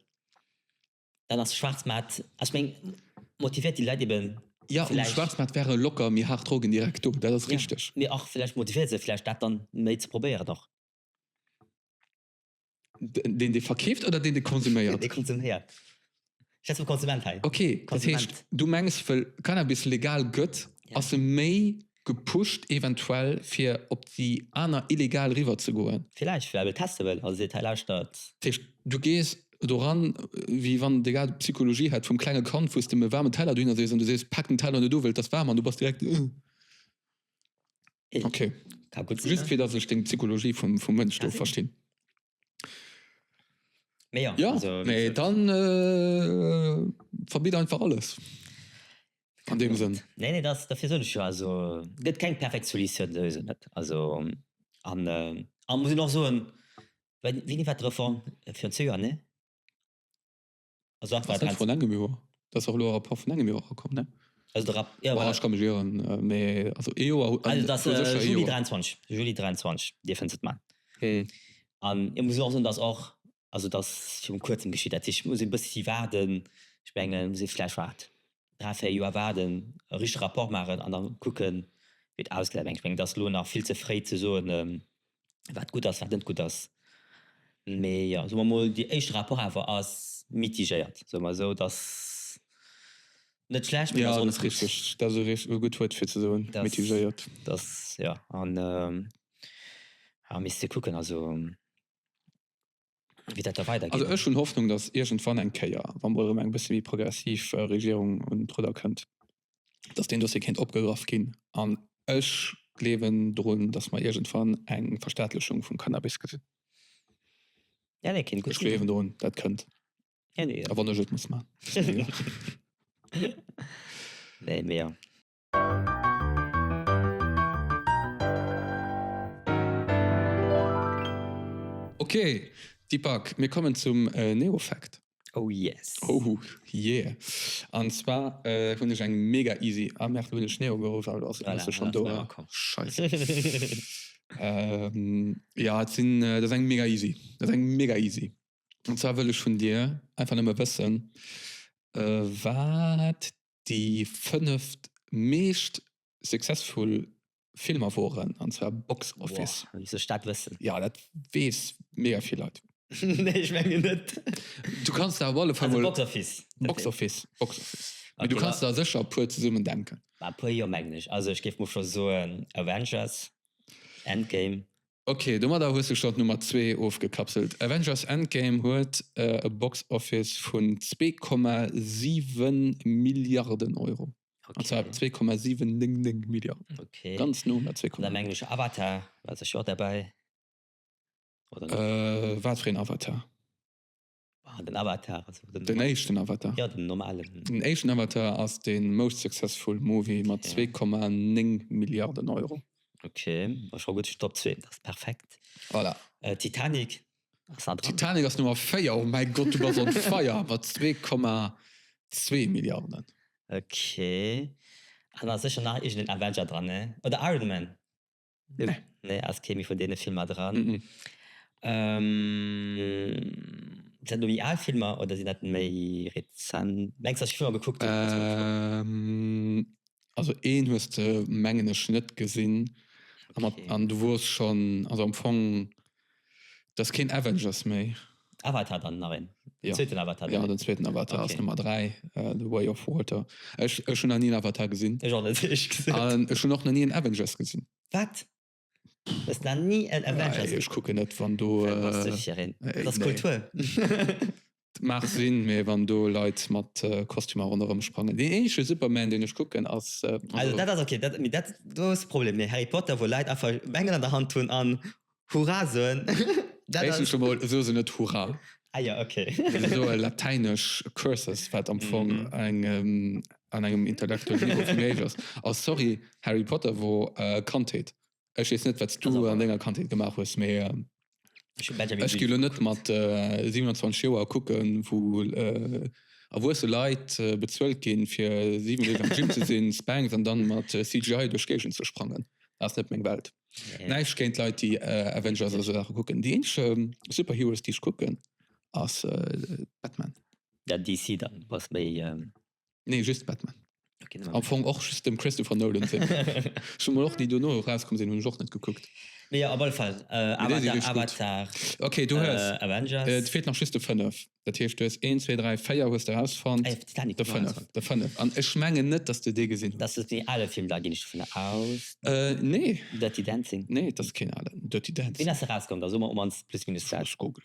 dann ass de Schwaarzmaart, also ech meng, motivéiert déi Leit ebe vläicht. Jo, um Schwaarzmaart wäre locker méi haart Drogen direkt do, dat ass richteg. Mee och vläicht motivéiert se vläicht dat dann méi ze probéieren och. Den de verkeeft oder den de konsuméiert? Dee konsuméiert. Ech hätt sou Konsument hei. Okay, dat Konsument. heescht du mengs wëll Cannabis legal gëtt, Ja. ass e méi gepusht eventuell fir op déi aner illegal riwwer ze goen? Villäicht, well e wëll teste wëll a seet, hei lauschtert. Dat heescht du gees doran wéi wann de grad d'Psychologie hätt vum klenge Kand, wou s de em e waarmen Teller dohinner sees an du sees, pak den Teller net u wëll et ass waarm an du bass direkt, Ugh. Okay. Ka gut sinn, Just ne? fir datt ech deng Psychologie vum, vum Mënsch do Merci. verstinn. Mee ja, Ja, also, wéi mee gesot, dann äh, verbitt einfach alles. An dem Sënn. Nee, nee, das, dafir soen ech jo, also gëtt keng perfekt Solutioun, sou is et net. Also an äh, a muss een och soen, wéini war d'Reform? Virun zwee Joer, ne? also einfach das von engem Joer das auch lo rapport von engem Joer rakom ne also der Rapp ja voilà. ich kann mich irren äh, mais also e Joer also das äh, Juli 23 Juli 23 dir findest het man hm. an ich muss auch sagen dass auch also das schon kurzem geschieht hat ich muss ein bisschen warten ich mengen sie vielleicht wart drei vier Joer warten richtig rapport machen an dann gucken wird ausgelernt ich mengen das lo nach viel ze frei zu so ähm, wat gutt ass, wat net gutt ass. Mee jo, soe mer emol, déi éischte Rapport awer ass mitigéiert, soe mer esou, et ass net schlecht, mee et ass och net gutt. Jo, dat ass richteg, dat ass e gutt Wuert fir ze soen, mitigéiert. Mee misst ee kucken, also. wéi dat da weider geet. Also ech hunn Hoffnung, datt iergendwann eng Kéier, wa mol erëm eng bësse méi progressiv Regierung un d'Rudder kënnt, datt deen Dossier kéint opgegraff ginn. An ech gleewen drun, datt mer iergendwann eng Verstaatlechung vum Cannabis gesinn. Ja, nee, kéint gutt sinn. Ech gleewen drun, dat kënnt. A wann ech et muss maachen. Nee, mee jo. Ok Deepak, mir kommen zum Neofact. Oh yes. Oh yeah. An zwar hunn ech eng mega easy, ah merde lo hunn ech Neo geruff awer do ass se schonn do, Scheiss. Jo et sinn, dat ass eng mega easy, dat ass eng mega easy. An zwar wëll ech vun dir einfach nëmme wëssen wat Déi fënneft meescht successful Filmer woren, an zwar Box Office. Woah, wéi soll ech dat wëssen? Jo, dat weess mega vill Leit. Nee, ech mengen net. Du kanns der op alle Fall mol. Also Box Office. Box Office, Box Office. Mee du kanns der sécher e puer zesummen denken. Bah, e puer jo, mengen ech. Also ech géif mol scho soen Avengers, Endgame. Ok, domadder hues du schon d'Nummer zwee ofgekapselt. Avengers Endgame huet e Box Office vun 2,7 Milliarden Euro, an zwar 2,799 Milliarden, ganz no un der 2,7. An am englesche Avatar war sech jo och derbäi, oder net? Watfir een Avatar? Ah, den Avatar. Also den, den éischten Avatar. Ja, den normalen. Den éischten Avatar ass de most successful Movie mat okay. 2,9 Milliarden Euro. Okay, war schon gut schon Top 2, das ist perfekt. Voilà. Äh, Titanic. Titanic ass Nummer 4, oh mein Gott, du warst on fire, mat 2,2 Milliarden. Okay. An da sicher nach irgendein Avenger dran, ne? Oder Iron Man. Nee, ass kee méi vun deene Filmer dran. Sinn dat elo méi al Filmer oder sinn dat méi rezent? Mengs de, datt ech Filmer gekuckt hunn déi dëst Joer erauskomm sinn? Also een hues de mengen ech net gesinn an du wors schonn, also am Fong. Dat ass keen Avengers méi. Avatar dann nach een? Den zweeten Avatar? Jo, den zweeten Avatar ass Nummer 3, The Way of Water. Ech hunn nach ni en Avatar gesinn. Ech och net, ehrlech gesot. An ech hunn och nach ni en Avengers gesinn. Wat? Du hues nach ni en Avengers gesinn? Ech kucken net, wann do. Wat bass du fir een? Dat ass Kultur. Maach sinn mee wann do Leit mat Kostümer ronderëm sprangen. Deen eenzege Superman deen ech kucken ass also. Dat ass ok, dat mee dat do ass Problem mee Harry Potter wou Leit einfach Bengel an der Hand hunn an Hurra soen dat ass. Éischtens emol soe se net Hurra. Ah jo ok. Se soe latäinesch Curses wat am Fong eng an engem intellektuelle Niveau vum Meesch ass. A sorry Harry Potter wor Kandheet. Ech weess net, wat s du an denger Kandheet gemaach hues, mee ech gi lo net mat 27 Joer kucken, wou erwuesse Leit bezuelt ginn, fir 7 Deeg am Gym ze sinn, Spanx, an dann mat CGI duerch d'Géigend ze sprangen. Dat ass net meng Welt. Näischt géint Leit, déi Avengers a sou Saache kucken. Déi eenzege Superheroes, déi ech kucken, ass Batman. Ja, DC dann, bass méi. Nee, just Batman. Okay, Am Fong och just dem Christopher Nolan sinn. Schon mal och déi dono rauskom sinn hunn ech och net gekuckt. Nee, op alle Fall äh, Avatar, nee, Avatar okay, du äh, Avengers äh, feelt nach just de 5 dat heescht du hues 1 2 3 4 hues der rausfan ah, de 5 de 5 an ech mengen net dass du dee gesinn das ist die alle Film da gin ich vun aus äh, nee dat die dancing nee das kind alle dat die dancing rauskom da so man plus minus google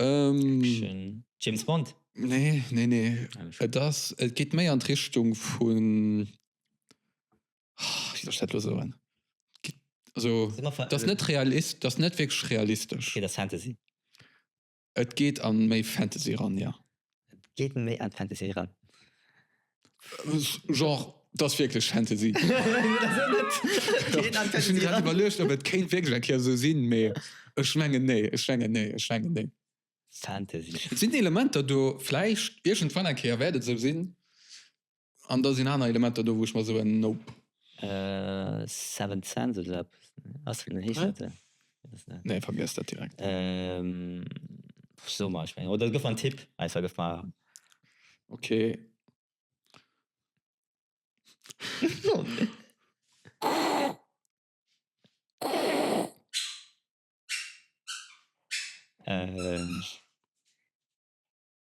Action. James Bond? Nee, nee, nee. Et ass, et geet méi an d'Richtung vun, oh, wéi soll ech dat elo soen? Geet, also, et ass net realist, et ass net wierklech realistesch. Okay, et ass Fantasy. Et geet a méi Fantasy eran, jo. Geet méi an Fantasy eran. Genre dass wierklech Fantasy. Ech hunn grad iwwerluecht ob et kéint wierklech eng Kéier esou sinn, mee ech mengen nee, ech mengen nee, ech mengen nee. Fantasy. Et sinn Elementer do, vläicht iergendwann eng Kéier wäert et esou sinn. An da sinn aner Elementer do wou ech mer soen, Nope. Seventh Sense oder eppes? Ass dat heescht dat den? Nee vergiess dat direkt. So mach ech oder gëff mer en Tipp einfach gëff mer. Ok.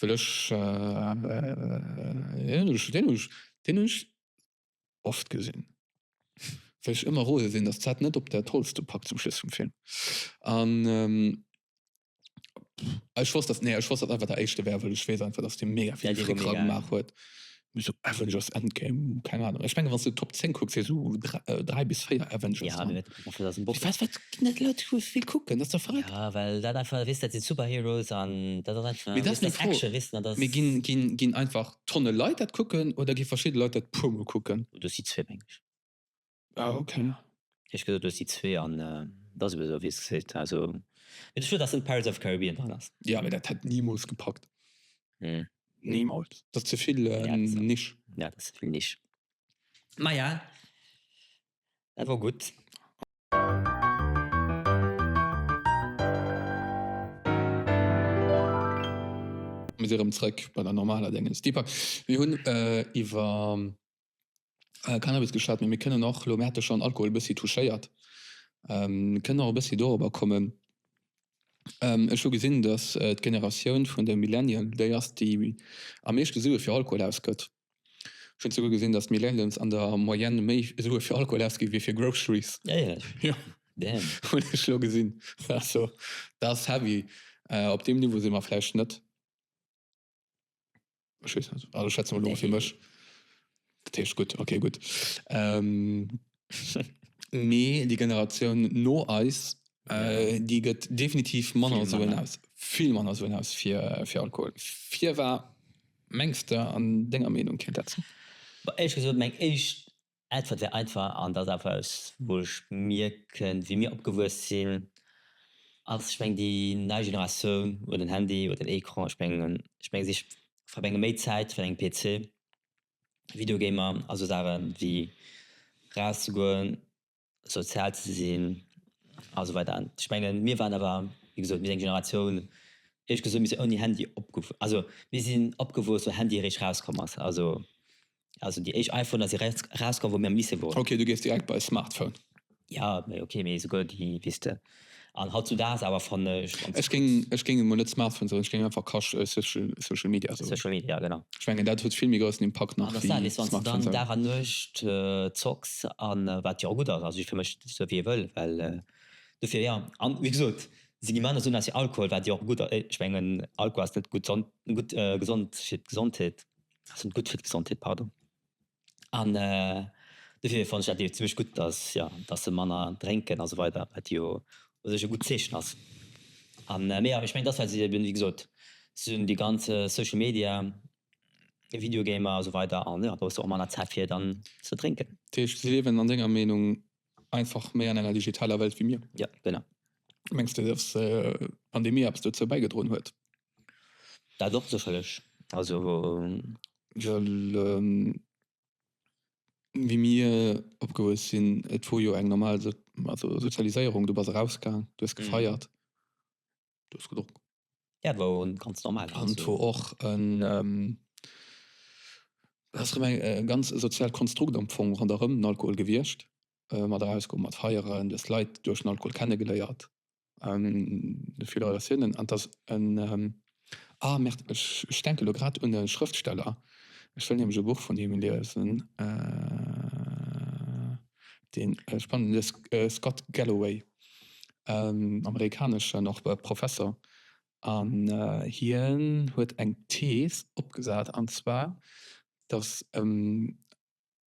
Well ech deen hunn ech oft gesinn, well ech ëmmer rose sinn, datt d'Zäit net op dat Holz do packt zum Schluss vum Film. An ech wosst, datt, nee ech wosst, datt einfach der éischte wär, well ech weess einfach, datt dee mega vill Fréckere gemaach huet. Esou Avengers Endgame, keng Ahnung. Ech menge wann s de d'Top 10 kucks, fir esou dräi bis véier Avengers dran. Wat ginn dat Leit déi esou vill kucken? Dat ass dach verréckt. Ja well dat einfach, weess dat sinn Superheroes an dat ass einfach, weess dat ass Action, weess dat ass. Mee ginn einfach Tonne Leit dat kucken oder gi verschidde Leit dat puer mol kucken? Do si zwee meng ech. Ah ok. Ech gesot du hues déi zwee an et ass eben esou wéi s gesäit. Also mee de Schluss ass net Pirates of Caribbean dran ass. Jo mee dat hätt nimools gepackt. Nimools. Dat ass zevill Niche. Jo dat ass zevill Niche. Maja dat wor gutt. Mir si rëm zréck bei der normaler Déngens. Deepak, mir hunn iwwer. Cannabis geschwat, mee mir kënnen och, elo mir hate schonn Alkohol e bëssi touchéiert, mir kënnen och e bëssi dorobber kommen. Ech hu gesinn, datt d'Generatioun vun de Millennial déi ass, déi am meeschte Sue fir Alkohol ausgëtt. Ech hunn esouguer gesinn, datt d'Millennials an der Moyenne méi Sue fir Alkohol ausginn, wéi fir Groceries. Jo, hunn ech elo gesinn. Dat ass heavy. Op deem Niveau si mer vläicht net. Ech weess net. Also ech schwätzen elo mol fir mech. Dat heescht gutt, ok gutt. Mee déi Generatioun no eis, déi gëtt definitiv manner Suen aus, vill manner Suen aus fir Alkohol. Firwat mengs de an denger Meenung kéint dat sinn? Bah, éierlech gesot, meng éischt Äntwert wär einfach, an dat ass eppes wou ech mierken, wéi mir opgewuess sinn, ass, ech meng déi nei Generatioun huet den Handy, huet den Ecran, ech meng ech meng si verbrénge méi Zäit virun engem PC, Videogamer a sou Saachen, wéi rauszegoen, sozial ze sinn a sou weider. Ech menge mir waren awer, wéi gesot, mir sinn eng Generatioun, ehrlech gesot, mir sinn ouni Handy opgewuess, also mir sinn opgewuess wou Handy eréischt rauskomm ass, also Also déi éischt iPhoner si rauskomm wou mir am Lycée woren. Ok, du gees direkt bei Smartphone. Jo, mee ok, mee souguer déi, weess de, an hautzudags awer fannen ech. Ech géing, ech géing emol net Smartphone soen, ech géing einfach Kasch, social, social media soen. Social media, genau. Ech mengen dat huet vill méi groussen Impakt nach wéi Smartphone selwer. An ass dat eis, wann s de dann Dag an Nuecht zocks, an wat jo och gutt ass, also fir mech sou wéi e wëll, well dofir, jo. An wéi gesot, sinn déi manner Suen ass jo Alkohol, wat jo och gutt, ech mengen Alkohol ass net gutt, gutt, gesond fir d'Gesondheet. Sinn gutt fir d'Gesondheet, pardon. An dofir fannen ech dat jo zimlech gutt, datt, jo, datt se manner drénken a sou weider, wat jo u sech e gutt Zeechen ass. An, mee jo, ech mengen, datt wat se eben, wéi gesot, se hunn déi ganz Social Media, Videogamer a sou weider an, jo, do hues de och manner Zäit fir dann ze drénken. Dat heescht, si liewen an denger Meenung einfach méi an enger digitaler Welt wéi mir? Jo, genau. Mengs de, datt d'Pandemie eppes dozou bäigedroen huet? Dat och sécherlech. Also well wéi mir opgewuess sinn, et wor jo eng normal Sozialiséierung, du bass erausgaang, du hues gefeiert, du hues gedronk. Jo, et wor ganz normal. An et wor och e ganz soziaalt Konstrukt am Fong ronderëm den Alkohol gewiescht, mat erausgoen, mat feieren, du hues Leit duerch den Alkohol kennegeléiert. Filoratiounen an dass en, ah merde, ech denke elo grad un e Schrëftsteller, ech wëll nämlech e Buch vun him liesen, deen ech fannen, de Scott Galloway, amerikaneschen och Professor, an hien huet eng Thees opgesat, an zwar dass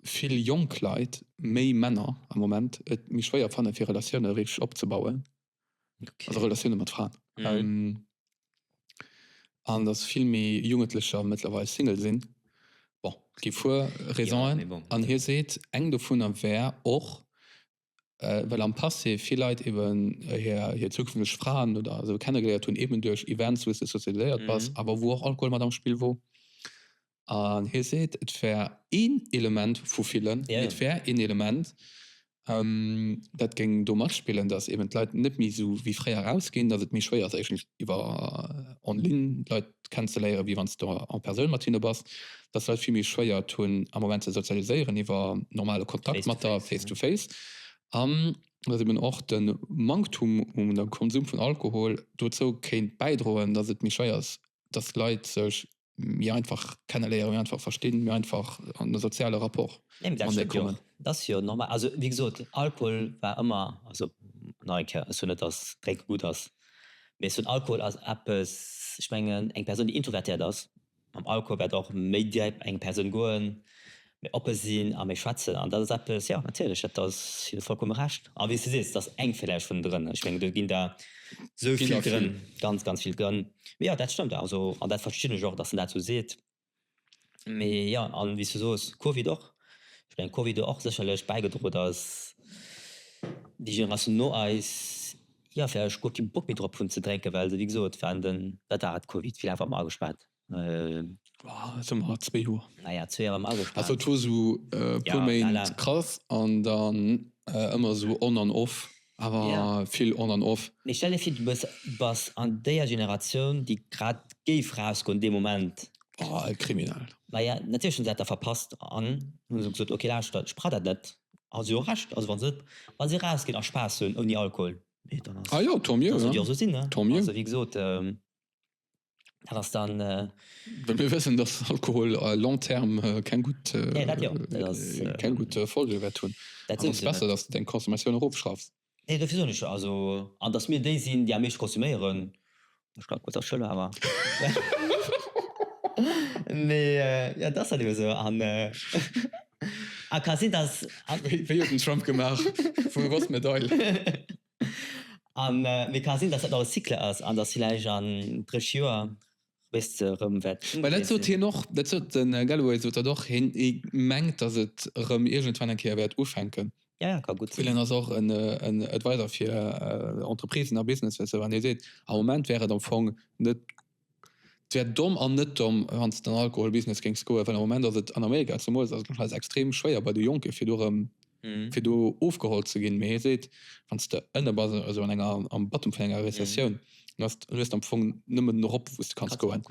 vill jonk Leit, méi Männer am Moment et méi schwéier fanne fir Relatioune richteg opzebauen, also Relatioune mat Fraen, an datt vill méi Jugendlecher mëttlerweil Single sinn. Bon, et gi puer Raisonen an hie seet, eng dovunner wär och, well am Passé vill Leit eben hir zukünfteg Fraen oder esou kennegeléiert hunn, eben duerch Events, wou s de sozialiséiert bass, awer wou och Alkohol mat am Spill wor. An hie seet, et wär een Element vu villen, mee et wär een Element, dat géing do matspillen, datt eben d'Leit net méi esou wéi fréier erausginn, datt et méi schwéier ass, éischtens iwwer en ligne d'Leit kennenzeléieren, wéi wann s de en Persoun mat hinne bass, dass Leit vill méi schwéiert hunn am Moment ze sozialiséieren iwwer normale Kontakt mat der face to face an dass eben och de Manktum un dem Konsum vun Alkohol dozou kéint bäidroen, dass et méi schwéier ass, dass Leit sech méi einfach kenneléieren, méi einfach verstinn, méi einfach an e soziale Rapport matenee kommen. Dat ass jo normal. Also wéi gesot, Alkohol war ëmmer, also nach eng Kéier, ech soen net, dass Drénke gutt ass, Mee esou den Alkohol ass eppes, ech mengen eng Persoun déi introvertiert ass, mam Alkohol wäert och méi dier op eng Persoun goen, méi oppe sinn a méi schwätzen an dat ass eppes, jo natierlech, dat ass, hu se vollkomme Recht. A wéi s de sees, et ass eng villäicht vun drënne, ech mengen do ginn der esou vill drënn, ganz ganz vill drënn. Mee jo dat stëmmt also an dat verstinn ech och, datt en dat esou seet. Mee jo, a wéi s du soos, Covid och. Ech mengen, Covid huet och sécherlech bäigedroen, datt déi Generatioun no eis, jo, vläicht guer kee Bock méi drop hunn ze drénken, well se, wéi gesot, waren den, wat war et, Covid, wéi laang ware mer agespaart? Elo si mer zwee Joer. Ah ja, zwee Joer ware mer agespaart. Also et wor esou e puer Méint krass an dann ëmmer esou on an off. Awer vill on an off. Mee stell dir vir du bass an déier Generatioun déi grad géif rausgoen dee Moment. Oh kriminell. Maja natierlech hunn se dat da verpasst an hunn esou gesot ok lauschtert ech brauch dat net. Hu se jo och Recht, also wann se wann se rausginn a Spaass hunn ouni Alkohol, mee dann ass ah jo tant mieux, ass et jo esou sinn ne, also wéi gesot. Dat ass dann. Well mir wëssen, datt Alkohol à long terme keng gutt, keng gutt Folge wäert hunn. Dat ass besser, datt s de deng Consommatioun erofschraffs. Nee, dofir soen ech jo also. An datt mir déi sinn, déi am meeschte konsuméieren. Ech kann kuerz aschëlle awer. Mee jo, et ass halt ebe sou. An a ka sinn, datt. Wéi huet den Trump gemaach? Vu wou ass d'Medail? An et ka sinn, datt dat nach e Cycle ass an datt villäicht an 30 Joer wéist se erëm wäert ëmgedréit sinn. Well dat sot hien och, dat sot de Galloway sot dat och, hien mengt, datt et erëm iergendwann eng Kéier wäert ufänken. Jo, jo, ka gutt sinn. Well hien ass och en Advisor fir Entreprisen a Businesses an hie seet, am Moment wär et am Fong net 't wär domm an net domm wann s de an Alkohol Business géings goen, well am Moment ass et an Amerika zemools ass et nach extrem schwéier bei de Jonken fir do erem fir do ofgeholl ze ginn, mee hie seet wann s de ënne bass esou an enger am Bottom vun enger Rezessioun dann ass dann hues de am Fong nëmmen en erop wou s de kanns goen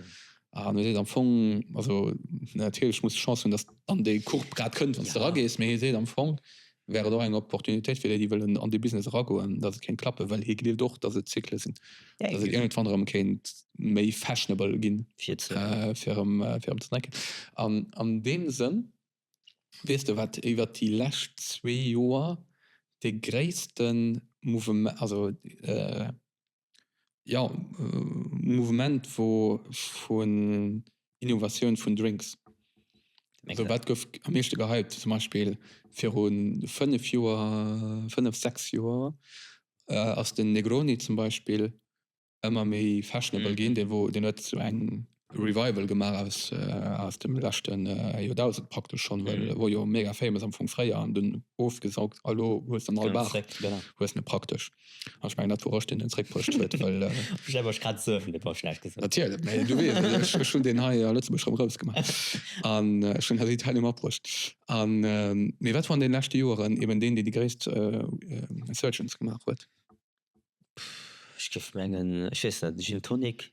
an hie seet am Fong also natierlech muss de Chance hunn dass dann déi Courbe grad kënnt wann s de era gees, mee hie seet am Fong wär et och eng Opportunitéit fir déi, déi wëllen an dee Business eragoen, datt et kéint klappen, well hie gleeft och, datt et Zykle sinn, datt et iergendwann erëm kéint méi fashionable ginn, fir erëm ze drénken. An an deem Sënn, weess de, wat iwwert déi lescht zwee Joer dee gréisste Mouveme, also, Jo, Mouvement vu vun Innovatioun vun Drinks. Also wat gouf am meeschte gehypt? Zum Beispill viru fënnef Joer, fënnef, sechs Joer ass den Negroni zum Beispill ëmmer méi fashionable ginn. Dee wor, deen huet esou eng Revival gemaach aus aus dem leschten Joerdausend praktesch schonn, well e wor jo mega famous am Fong fréier an dunn ofgesaugt a lo hues de en al bach, hues en e praktesch an ech mengen dat wor ech deen en zréckbruecht huet, well ech elo ech grad surfen dat wor schlecht gesot natierlech mee du weess et ech ech hunn deen hei a Lëtzebuerg rëm grouss gemaach an ech hunn hei d'Italien matbruecht an mee wat wor an den leschte Joeren eben deen deen déi gréisst Insurgence gemaach huet? Ech géif mengen ech weess net Gin Tonic.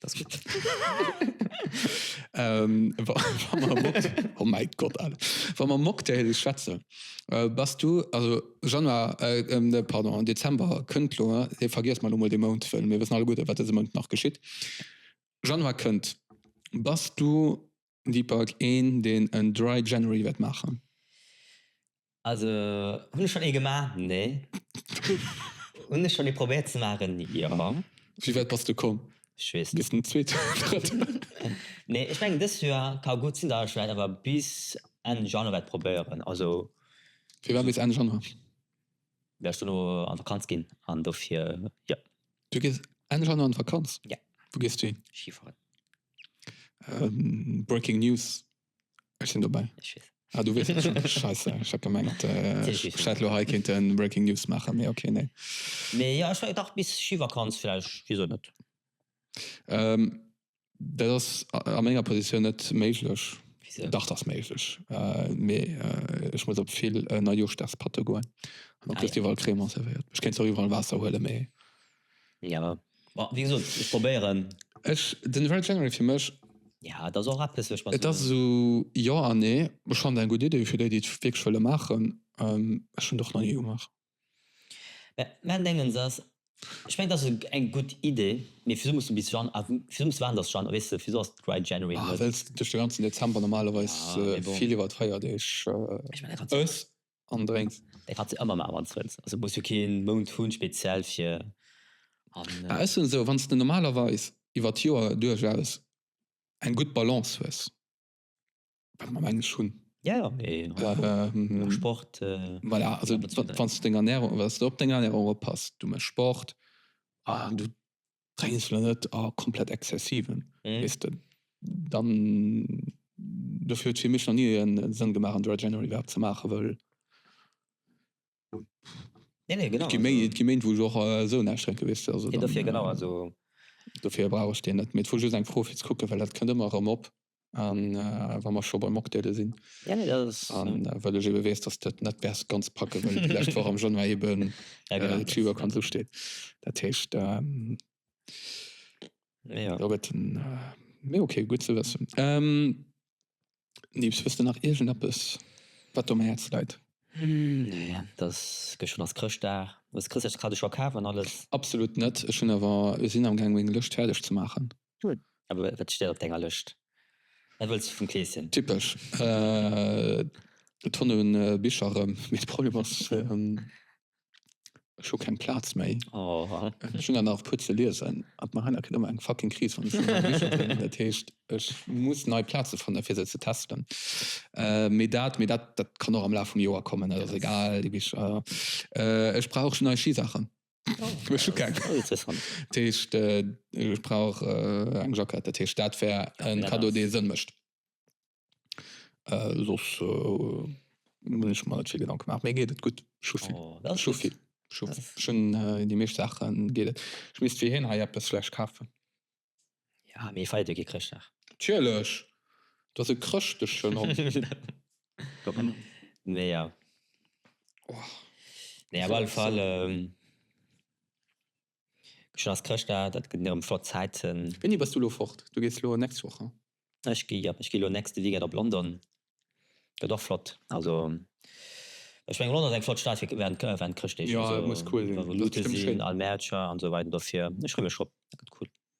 Das ist gut. ähm, oh mein Gott, Alter. Wenn man Mocktail schwätzen, äh, bist du, also Januar, äh, ähm, ne, pardon, Dezember, könnt lo, äh, vergiss mal nochmal den Mond, weil wir wissen alle gut, was diesen Mond noch geschieht. Januar könnt, bist du Deepak, Een deen en Dry January wäert maachen? Also hunn ech schonn ee gemaach? Nee. Hunn ech schonn ee probéiert ze maachen? Jo. Wéi wäit bass de komm? Ech weess net. Bis den zweeten oder drëtten? Nee, ech mengen dëst Joer ka gutt sinn, datt ech vläicht awer bis Enn Januar wäert probéieren. Also. Firwat bis Enn Januar? Mir ass dono an Vakanz gin an dofir jo. Du gees endlech an an Vakanz? Ja. Wou gees du hin? Schifahren. Breaking News, ech sin dobäi. Ech weess. Ah du weess et schon, scheisse, ech hat gemengt ech hätt lo hei kéinten Breaking News maachen, mee ok nee. Mee jo ech dach bis Schivakanz vläicht, wisou net? Dat ass a menger Positioun net méiglech. Wisou? Dach, dat ass méiglech, mee ech muss op vill Neijooschdagspartye goen an da kriss de iwwerall Crema servéiert. Ech kéint zwar iwwerall Waasser huelen, mee. Jo, ma wéi gesot, ech probéieren. Ech, den Dry January fir mech. Jo, et ass och eppes, wou ech mer. Et ass esou jo an nee. Ech fannen dat eng gutt Iddi fir déi, déi et wierklech wëlle maachen. Ech hunn et och nach ni gemaach. Mäin Déngens ass, ech mengen dat ass eng gutt Idee, mee fir esou muss de bis Jan. Fir esou muss de waarden dass Jan, weess de, fir esou ass Dry January net. Well s de duerch de ganzen Dezember normalerweis vill iwwert Feierdeeg ëss an drénks. Dat kanns de ëmmer maachen wann s wëlls, also muss jo kee Mount hunn speziell fir. Mä ech soen esou, wann s de normalerweis iwwert d'Joer duerchaus eng gutt Balance hues. Wat mer am Englisch hunn. Ja, ja, mee Well, ähm, am Sport, äh, voilà, also Wat wat wann s du deng Ernährung, wann s du op deng Ernährung oppasst, du méchs Sport an du drénks elo net a komplett exzessiven, mhm. weess de, dann dofir huet fir mech nach ni e Sënn gemaach an Dry January iwwerhaapt ze maachen, wëll Nee, nee, genau. Et gi Méint, wou ech och esou näischt drénke, weess de. Also dann. Dofir, genau, also. Dofir brauch ech deen net. Mee et wor just eng Fro fir ze kucken, well dat kënnt ëmmer erëm op, wa mer scho bei Mocktaile sinn. Ja, nee, dat ass. A well ech ebe weess, datt de et net wäers ganz packe wëlls, déi lescht Woch am Januar ebe Chibo Con Su steet. Dat heescht, da gëtt en. Mee ok, gutt ze wëssen. Nees, hues de nach iergendeppes, wat der um Häerz läit? Nee, et ass, gëschter ass Chrëschtdag. Hues de Chrëschtdagskaddo scho kaf an alles? Absolut net, ech hunn awer, sinn awer amgaang meng Lëscht fäerdeg ze maachen. Gutt, awer wat steet op denger Lëscht? Wat wëlls de vum Kleeschen? Typesch Tonne Bicher erëm, mee de Problem ass. Ech hu keng Plaz méi. Ech hunn der nach e puer ze liesen. Ab mar heiner kritt ëmmer eng fucking Kris, wann ech un meng Bicher denken. Dat heescht, ech muss nei Plaze fannen, fir se ze testen. Mee dat, mee dat, dat kann och am Laf vum Joer kommen. Dat ass egal, déi Bicher. Ech brauch schon nei Schisachen. Ech hu keng. Dat heescht, ech brauch eng Jackett. Dat heescht, dat wär en Kaddo, dee Sënn mécht. Soss hunn ech mer net vill Gedanke gemaach. Mir geet et gutt. Ech hu vill. Oh, dat ass gutt. Ech hu vill. Ech hunn déi meescht Saache geet et. Ech misst fir hien hei eppes vläicht kafen. Jo, mee feiert Dir kee Chrëschtdag? Natierlech! Et ass e chrëschteschen Hond. Mee jo. Oh. Nee, op alle Fall. Gëschter ass Chrëschtdag, dat ginn erëm flott Zäiten. Wéini bass du elo fort? Du gees elo nächst Woch, haa? Ech gi, jo, ech gi elo nächste Weekend op London. Gëtt och flott. Also ech mengen London ass eng flott Stad fir während während Chrëschtdeeg. Jo, et muss cool sinn. Revolute sinn, all Mäercher an esou weider. Dofir, ech freeë mech drop. Dat gëtt cool.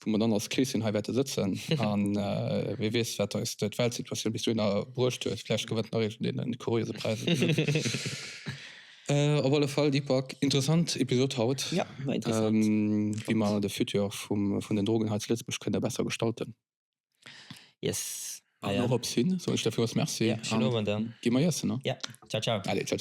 wou mer dann als Keesjen hei wäerte sëtzen an wee weess, wat eis d'Weltsituatioun bis dohinner bruecht huet. Vläicht gewënnt nach ee vun deenen kuriose Präisen. Op alle Fall, Deepak, interessant Episod haut, wéi mer de Futur vun den Drogen hei zu Lëtzebuerg kënne besser gestalten. Yes. An dorops hin soen ech der villmools Merci an gi mer iessen. Allez, ciao, ciao.